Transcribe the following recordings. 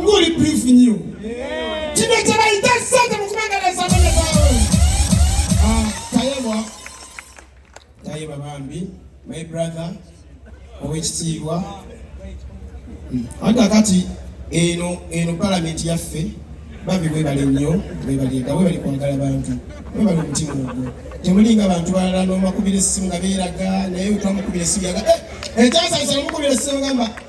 nguli brief nyo kino kyebayita sente mukubangalesa ah, tayebwa tayeba bambi my brother owekitiibwa hmm. aga kati eno eno palamenti yaffe babi webale nnyo webaliga webali kwagala bantu webali omutima ogwo temulinga bantu balala nomakubira essimu nga beeraga naye wetwamukubira essimu yaga eh, ekyasaisana mukubira essimu gamba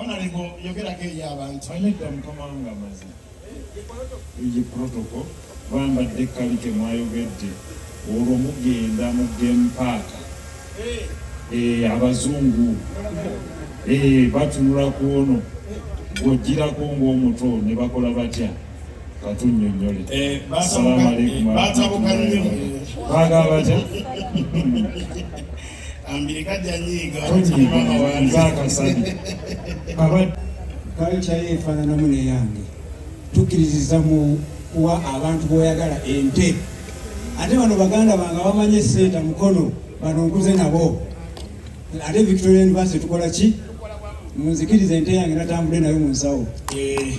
Onalebo ah, yogerako eri abantu. Anedda mukama wange amaze egi protoko bambadde kali temwayogedde olwo mugenda mu game park eh. Eh, abazungu eh, batunula ku ono gwojjirako ng'omuto ne bakola batya katunyonyole salamu alaikum baagala batya kalca ye efaananamu neyange tukkiririza mu kuwa abantu boyagala ente ate bano baganda bange bamanyi esente mukono bano nkuze nabo ate victoria university tukola ki munzikiriza ente yange natambule nayo mu nsawo eh,